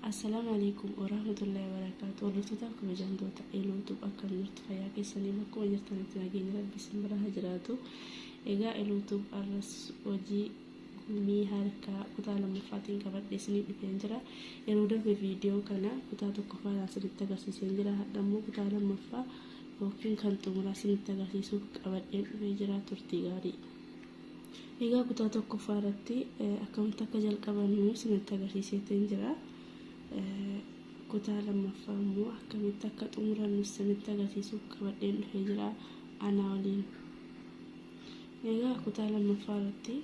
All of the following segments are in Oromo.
Assalaamu alaikum warahmatullahi wabarakaatu. Hordoftoota kabajamtoota Eluutuub akkam jirtu fayyaa keessanii bakkuma jirtanitti nageenya rabbi isin bira haa jiraatu. Egaa Eluutuub arras hojii Gumii harkaa kutaa lammaffaatiin qabadhee isinii dhufeen jira. Yeroo darbe viidiyoo kana kutaa tokkoffaadhaan isinitti agarsiiseen jira. Hadha immoo kutaa lammaffaa yookiin kan xumuraa isinitti agarsiisuuf qabadheen dhufee jira. Turtii gaarii. Egaa kutaa tokkoffaa irratti akkamitti akka jalqabannu isinitti agarsiiseetiin jira. Kutaa lammaffaa immoo akkamitti akka xumurannu isinitti agarsiisuuf qabadheen dhufee jira. Anaa waliin. Egaa kutaa lammaffaa irratti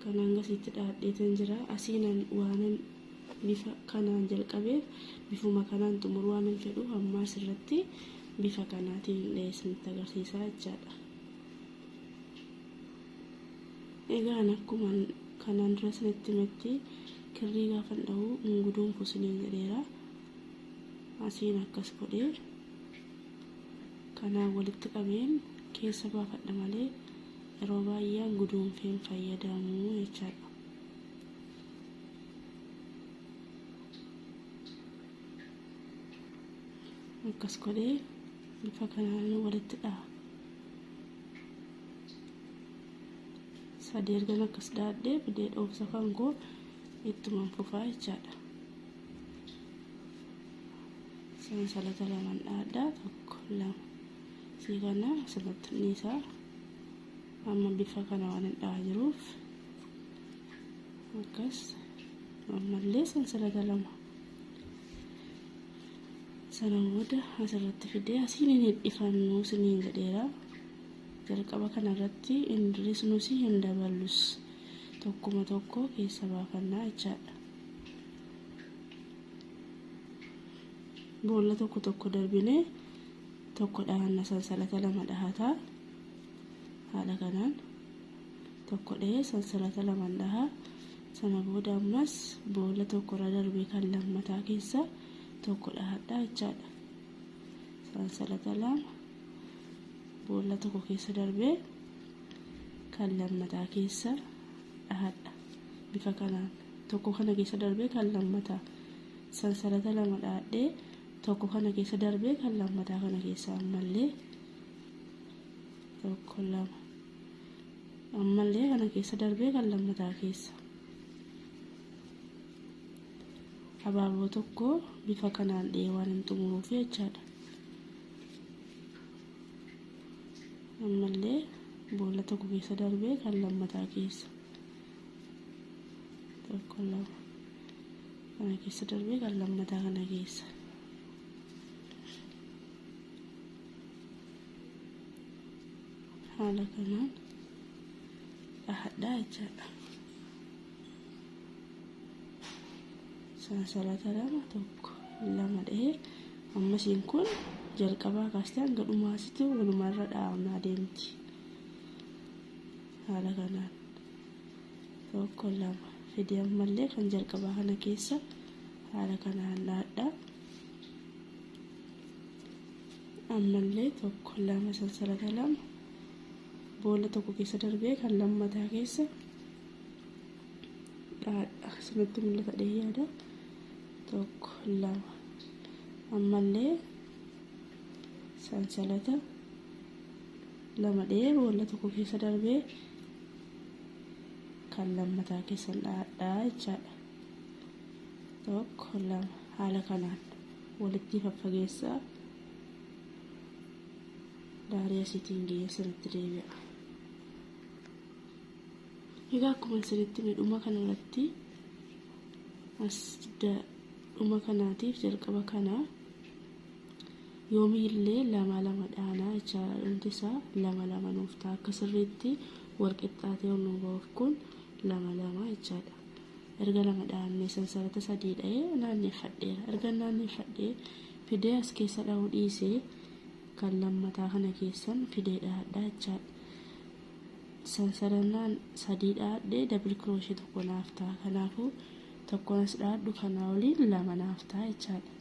kan hangasiitti dhaadheetan jira. Asiinan waanan bifa kanaan jalqabeef bifuma kanaan xumuruu waanan fedhuuf ammaas irratti bifa kanaatiin isinitti agarsiisaa jechaadha. Egaan akkuma kanaan dura isinitti himetti kirrii gaafan dhahu hin guduunfu isiniin jedheera. Asiin akkas godhee Kanaan walitti qabeen keessa baafadha malee yeroo baay'ee an guduunfee hin fayyadamu jechaadha. Akkas godhee bifa kanaan walitti dhaha. Sadii ergan akkas dhaadhee bidee dhoofsa kan koo ittuman fufaa jechaadha. sansalata laman dhaadhaa tokko lama sii kana asirratti dhiisaa amma bifa kana waan hin dhahaa jiruuf akkas ammallee sansalata lama sana booda asirratti fidee asiin hin hidhifannu siniin jedheera jalqaba kanarratti hin hir'isnus hin daballus tokkuma tokko keessa baafannaa jechaadha. boolla tokko tokko darbinee tokko dhahanna sansalata lama dhahataa haala kanaan tokko dhahee sansalata lama dhaha sana booda ammas boolla tokko irra darbee kan lammataa keessa tokko dhahadhaa jechaadha sansalata lama boolla tokko keessa darbee kan lammataa keessa dhahadha bifa kanaan tokko kana keessa darbee kan lammataa sansalata lama dhaadhee tokko kana keessa darbee kan lammataa kana keessa ammallee tokko lama ammallee kana keessa darbee kan lammataa keessa abaaboo tokko bifa kanaan dhihee waan hin xumuruuf jechaadha. ammallee boolla tokko keessa darbee kan lammataa keessa tokko lama kana keessa darbee kan lammataa kana keessa haala kanaan dhahadhaa jechaadha. sansalata lama tokko lama dhahee ammasiin kun jalqabaa kaastee hanga dhumaasitti walumarra dhahamaa deemti haala kanaan tokko lama fidee ammallee kan jalqabaa kana keessa haala kanaan dhaadha ammallee tokko lama sansalata lama boolla tokko keessa darbee kan lammataa keessa Akkasumatti mul'ata dhee yaada. Tokko lama. Ammallee sansalata lama dhee boolla tokko keessa darbee kan lammataa keessan dhaadhaa jechaadha. Tokko lama haala kanaan walitti faffageessaa daarii asiitiin geessan itti deebi'a. Egaa akkuma isinitti hime dhuma kana irratti as dhuma kanaatiif jalqaba kana yoomiillee lama lama dhaanaa jechaadha dhumti isaa lama lama nuuf ta'a akka sirriitti wal qixxaatee ol nuuf ba'uuf kun lama lama jechaadha. Erga lama dhaannee sansarata sadii dha'ee naanneeffadheera. Erga naanneeffadhee fidee as keessa dha'uu dhiisee kan lammataa kana keessan fidee dhahadhaa jechaadha. sansalannaan sadii dhaadhee dabli kirooshee tokko naaf ta'a kanaafuu tokkoon as dhaadhu kanaa waliin lama naaf ta'a jechaadha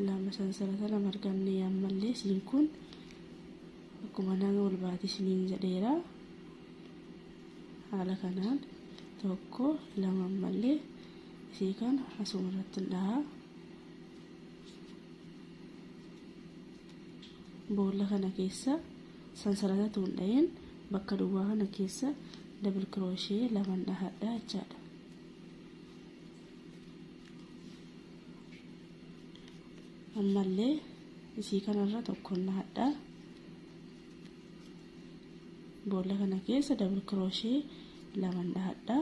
lama sansalata lama arganne ammallee siin kun akkuma nama ol baatee isiniin jedheera haala kanaan tokko lama ammallee isii kana asuma irratti dhahaa Boolla kana keessa sansalata utuu hin dhahin bakka duwwaa kana keessa double crochet laman dhahadha jechaadha. Ammallee isii kanarra tokkon dhahadha. Boolla kana keessa double crochet laman dhahadha.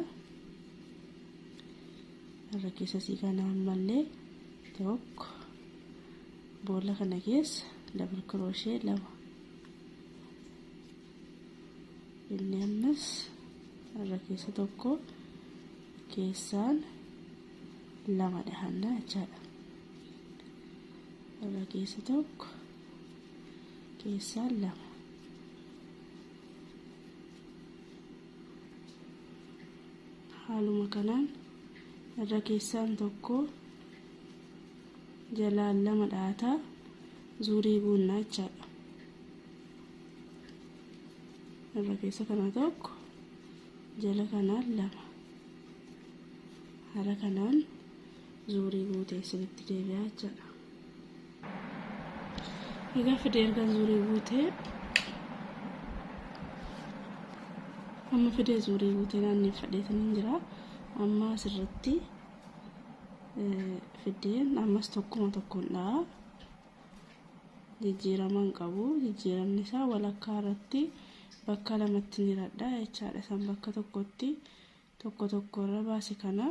Irra keessa isii kana ammallee tokko Boolla kana keessa double crochet lama inni ammas irra keessa tokko keessaan lama dhahanna jechaadha irra keessa tokko keessaan lama haaluma kanaan irra keessaan tokko jalaan lama dha'ataa zuurii guunnaa jechaadha irra keessa kana tokko jala kanaan lama haala kanaan zuurii guutee isinitti deebi'aa jechaadha egaa fidee erga zuurii guutee amma fidee zuurii guutee naanneffadheetaniin jira amma asirratti fiddeen ammas tokkuma tokkoon dha'a jijjiirama hin qabu jijjiiramni isaa walakkaa irratti bakka lamatti ni radha jechaadha san bakka tokkotti tokko tokko irra baase kana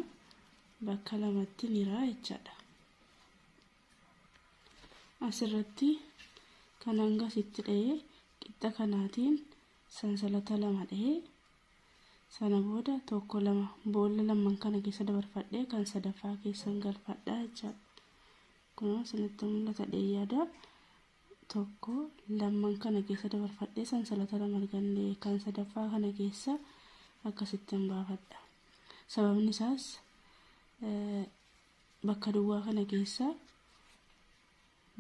bakka lamatti ni raa jechaadha asirratti kan hanga sitti dha'ee qixxa kanaatiin sansalata lama dha'ee Sana booda tokko lama boolla lamman kana keessa dabarfadhee kan sadaffaa keessan galfadhaa jechaadha. Kunoo isinitti mul'ata dheeyyaada. Tokko lamman kana keessa dabarfadhee sansalata lama arganne kan sadaffaa kana keessa akkasittan baafadha. Sababni isaas bakka duwwaa kana keessa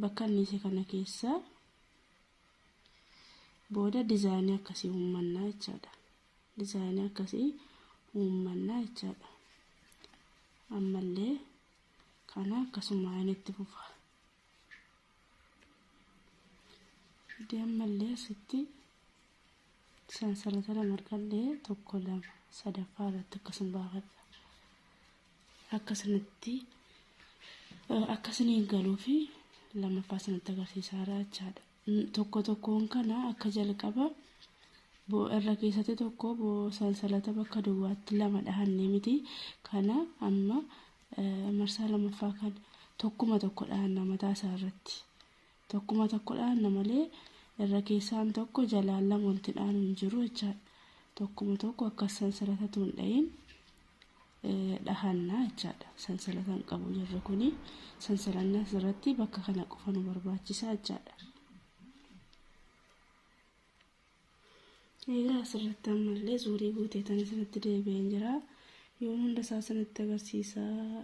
bakka anniise kana keessa Booda dizaayinii akkasii uummanna jechaadha. Dizaayinii akkasii uummanna jechaadha. Ammallee kana akkasuma inni itti fufa. Fidee ammallee asitti sansalata lama argadhee tokko lama sadaffaa irratti akkasuma baafadha. akka isinitti akka isiniin galuu fi lammaffaa isinitti agarsiisaa jira jechaadha. Tokko tokkoon kana akka jalqaba irra keessatti tokko sansalata bakka duwwaatti lama dhahannee miti kana amma marsaa lammaffaa kana tokkuma tokko dhahanna mataa isaa irratti. tokkuma tokko dhaanna malee irra keessaan tokko jalaan lama walitti dhaanu hin jiru jechaadha. Tokkuma tokko akkas sansalatatu hin dhahin dhahanna jechaadha. Sansalata hin qabu jirri kuni sansalanna asirratti bakka kana qofa nu barbaachisa jechaadha. Egaa asirratti ammallee zuurii guutee tan isinitti deebi'een jira. Yoon hunda isaa isinitti agarsiisaa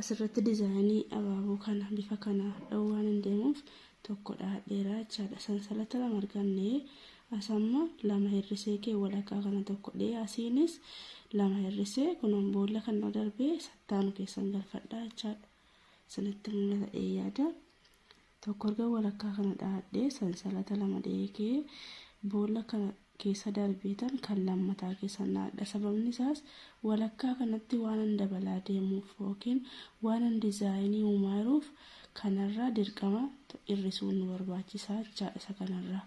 Asirratti dizaayinii abaaboo kana bifa kana dha'uu waan hin deemuuf tokko dhahadheeraa jechaadha. Sansalata lama arganne asamma lama hir'isee kee walakkaa kana tokko dhee asiinis lama hir'isee kunoon boolla kan nu darbee sattaanu keessan galfadhaa jechaadha. Isinitti mul'ata dhee yaada. tokko erga walakkaa kana dhahadhee sansalata lama dheekee boolla kana keessa darbeetan kan lammataa keessan dhahadha sababni isaas walakkaa kanatti waanan dabalaa deemuuf yookiin waanan dizaayinii uumaa jiruuf kanarraa dirqama hir'isuun nu barbaachisaa jechaadha isa kanarraa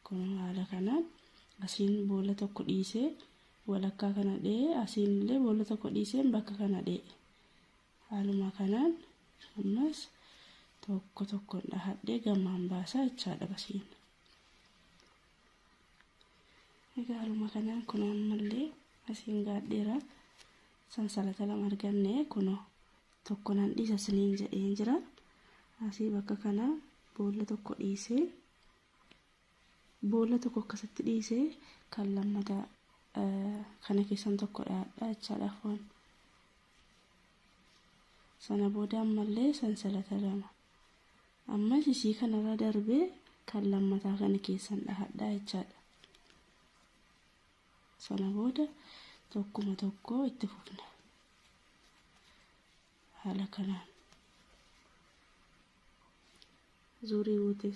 kun haala kanaan asiin boolla tokko dhiisee walakkaa kana dhee asiin illee boolla tokko dhiiseen bakka kana dhee Haaluma kanaan ammas tokko tokkoon dhahadhee gammaan baasaa jechaadha basiin. Egaa haaluma kanaan kun ammallee asiin gaadheera sansalata lama arganne kunoo tokko nan dhiisa isiniin jedheen jira. Asii bakka kana boolla tokko dhiisee Boolla tokko akkasitti dhiisee kan lammata kana keessan tokko dhaadha jechaadha foon. Sana booda ammallee sansalata lama. Ammas isii kanarra darbee kan lammataa kana keessan dhahadha jechaadha. Sana booda tokkuma tokko itti fufna. haala kanaan zuurii guutee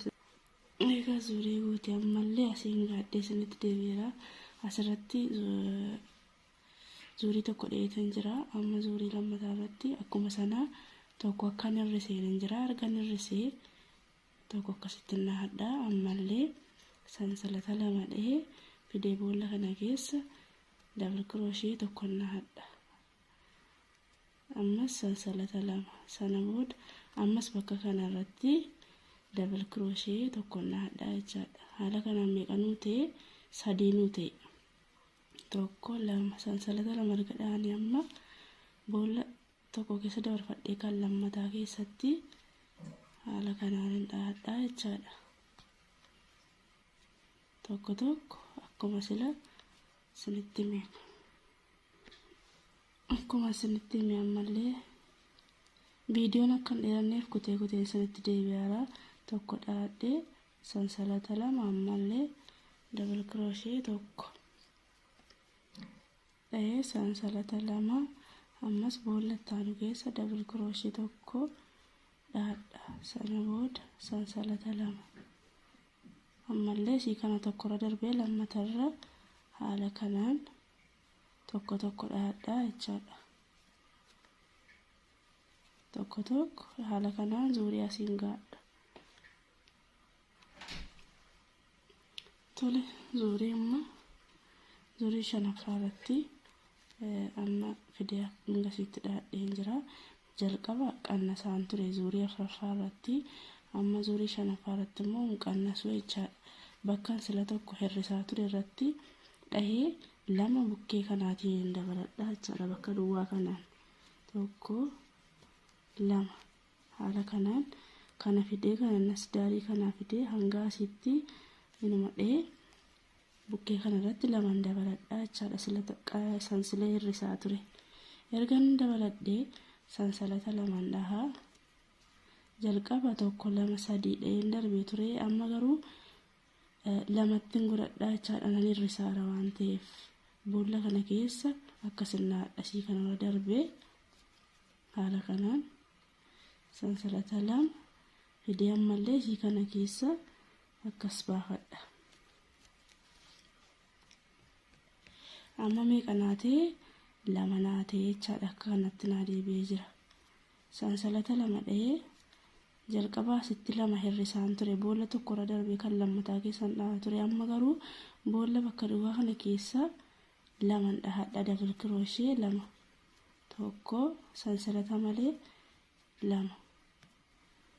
egaa zuurii guutee ammallee asiin gaadhee isinitti deebi'eera asirratti zuurii tokko dheetan jira amma zuurii lammataa irratti akkuma sana tokko akkan hir'iseen hin jira argan hir'isee tokko akkasitti nahadha ammallee sansalata lama dhahee fidee boolla kana keessa dabal kiroshee tokko nahadha ammas sansalata lama sana booda ammas bakka kana irratti dabal kirooshee tokko nahadhaa jechaadha haala kanaan meeqanuu ta'e sadiinuu ta'e tokko lama sansalata lama erga dhahanii amma boolla tokko keessa dabarfadhee kan lammataa keessatti haala kanaan hin dhahadhaa jechaadha tokko tokko akkuma sila sinitti meeqa Akkuma isinitti hime ammallee viidiyoon akka hin dheeranneef kutee kuteen isinitti deebi'aara. Tokko dhaadhee sansalata lama ammallee dabal kirooshee tokko dha'ee sansalata lama ammas boolla itti aanu keessa dabal kirooshee tokko dhaadha sana booda sansalata lama ammallee isii kana tokkorra darbee lammatarra haala kanaan tokko tokko dhahadhaa jechaadha. Tokko tokko haala kanaan zuurii asiin gaadha. Tole zuurii amma zuurii shanaffaa irratti amma fidee hanga asitti dhahadhee hin jira. Jalqaba qannasaan ture zuurii afraffaa irratti amma zuurii shanaffaa irratti immoo hin qannasu jechaadha. Bakkan sila tokko hir'isaa ture irratti dhahee lama bukkee kanaatiin hin dabaladha jechaadha bakka duwwaa kanaan. Tokko lama haala kanaan kana fidee kana nasdaarii kanaa fidee hanga asitti inuma dhahee bukkee kana irratti lamaan dabaladhaa jechaadha sila xiqqa sansilee hirrisaa ture ergan dabaladhee sansalata lamaan dhahaa jalqaba tokko lama sadii dhaheen darbee ture amma garuu lamattiin godhadhaa jechaadha nan hirrisaara waan ta'eef boolla kana keessa akka sirna hadhasii kanarra darbee haala kanaan sansalata lama fidee ammallee isii kana keessa akkas baafadha amma meeqa naatee lama naatee jechaadha akka kanatti naa deebi'ee jira sansalata lama dha'ee jalqabaa asitti lama hir'isaan ture boolla tokkorra darbee kan lammataa keessan dhahaa ture amma garuu boolla bakka duwwaa kana keessa laman dhahadha dabil kirooshee lama tokko sansalata malee 2.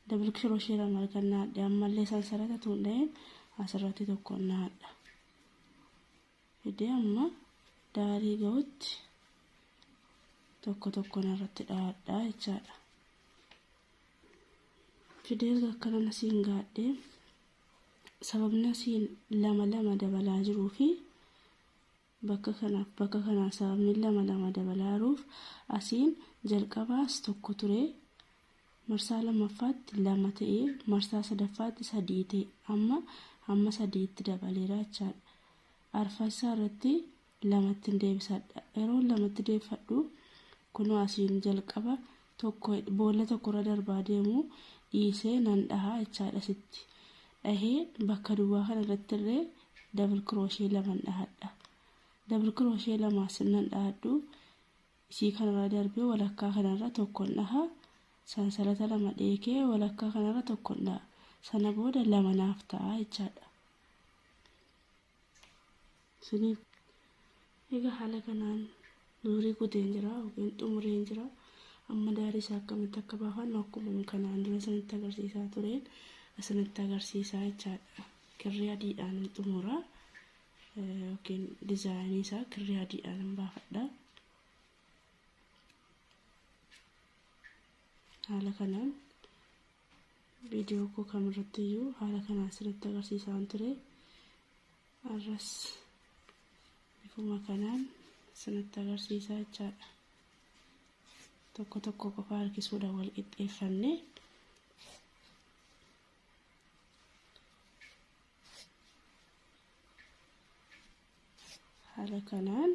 Double crochet lama erga naadhe ammallee sansarata tuundha'een asirratti tokko naadha. Fidee amma daarii gahutti tokko tokkoon irratti dhaadhaa jechaadha. Fidee erga akkana nasiin gaadhe sababni asiin lama lama dabalaa jiruu fi Bakka kanaaf bakka kanaa sababni lama lama dabalaaruuf asiin jalqabaas tokko ture marsaa lammaffaatti lama ta'e marsaa sadaffaatti sadii ta'e amma amma sadiitti dabaleera jechaadha. Arfassaa irratti lamattiin deebisadha. Yeroo lamatti deebifadhu kunoo asiin jalqaba tokko boolla tokkorra darbaa deemu dhiisee nan dhaha jechaadha sitti dhahee bakka duwwaa kana irratti irree dabal kirooshee laman dhahadha dabal kirooshee lamaa sirnan dhahadhu isii kanarra darbee walakkaa kanarra tokkon dhaha sansalata lama dheekee walakkaa kanarra tokkon dhaha sana booda lama naaf ta'a jechaadha Isinii egaa haala kanaan nuurii guteen jira yookiin xumureen jira. Amma daarii isaa akkamitti akka baafannu akkuma kanaan dura isinitti agarsiisaa tureen isinitti agarsiisaa jechaadha. Kirrii adiidhaan hin xumura yookiin dizaayinii isaa kirrii adiidhaan hin baafadha. Haala kanaan viidiyoo koo kamirratti iyyuu haala kanaan sirriitti agarsiisaan ture arras bifuma kanaan sirriitti agarsiisaa jechaadha tokko tokko qofa harkisuudha wal qixxeeffanne haala kanaan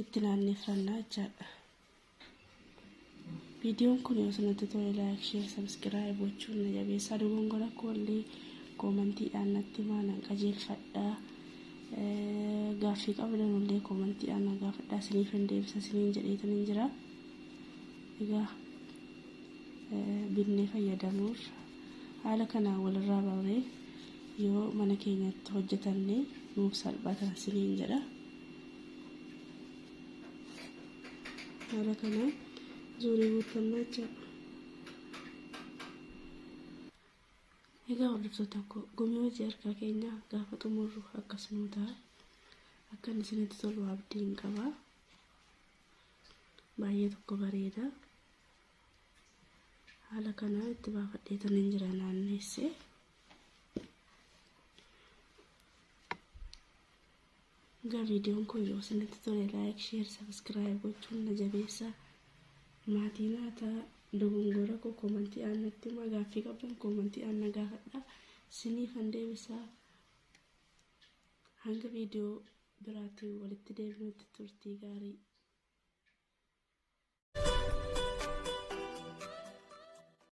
itti naanneffannaa jechaadha. Viidiyoon kun yoo sanatti tole laayik sheer sabskiraayib gochuun na jabeessaa dogongora koollee koomantiidhaan natti himaa nan qajeelfadhaa. Gaaffii qabdan illee koomantiidhaan na gaafadhaa isiniif hin deebisa isiniin jedheetan hin jira. Egaa binnee fayyadamuuf haala kanaan walirraa barree Yoo mana keenyatti hojjetanne nuuf salphata isiniin jedha. Haala kanaan zuurii guuttannaa jechuudha. Egaa hordoftoota koo gumii hojii harkaa keenya gaafa xumurru akkas nuu ta'a. Akka inni isinitti tolu abdiin qaba. Baay'ee tokko bareeda. Haala kanaan itti baafadheetan hin jira naanneessee. Egaa viidiyoon kun yoo isinitti tole laayik, sheer, sabiskiraayib gochuun na jabeessaa. Maatii naa ta'a. Dogongora koo koomantii aan natti himaa. Gaaffii qabdan koomantii aan na gaafadhaa. Siniifan deebisaa. Hanga viidiyoo biraatti walitti deebinutti turtii gaarii.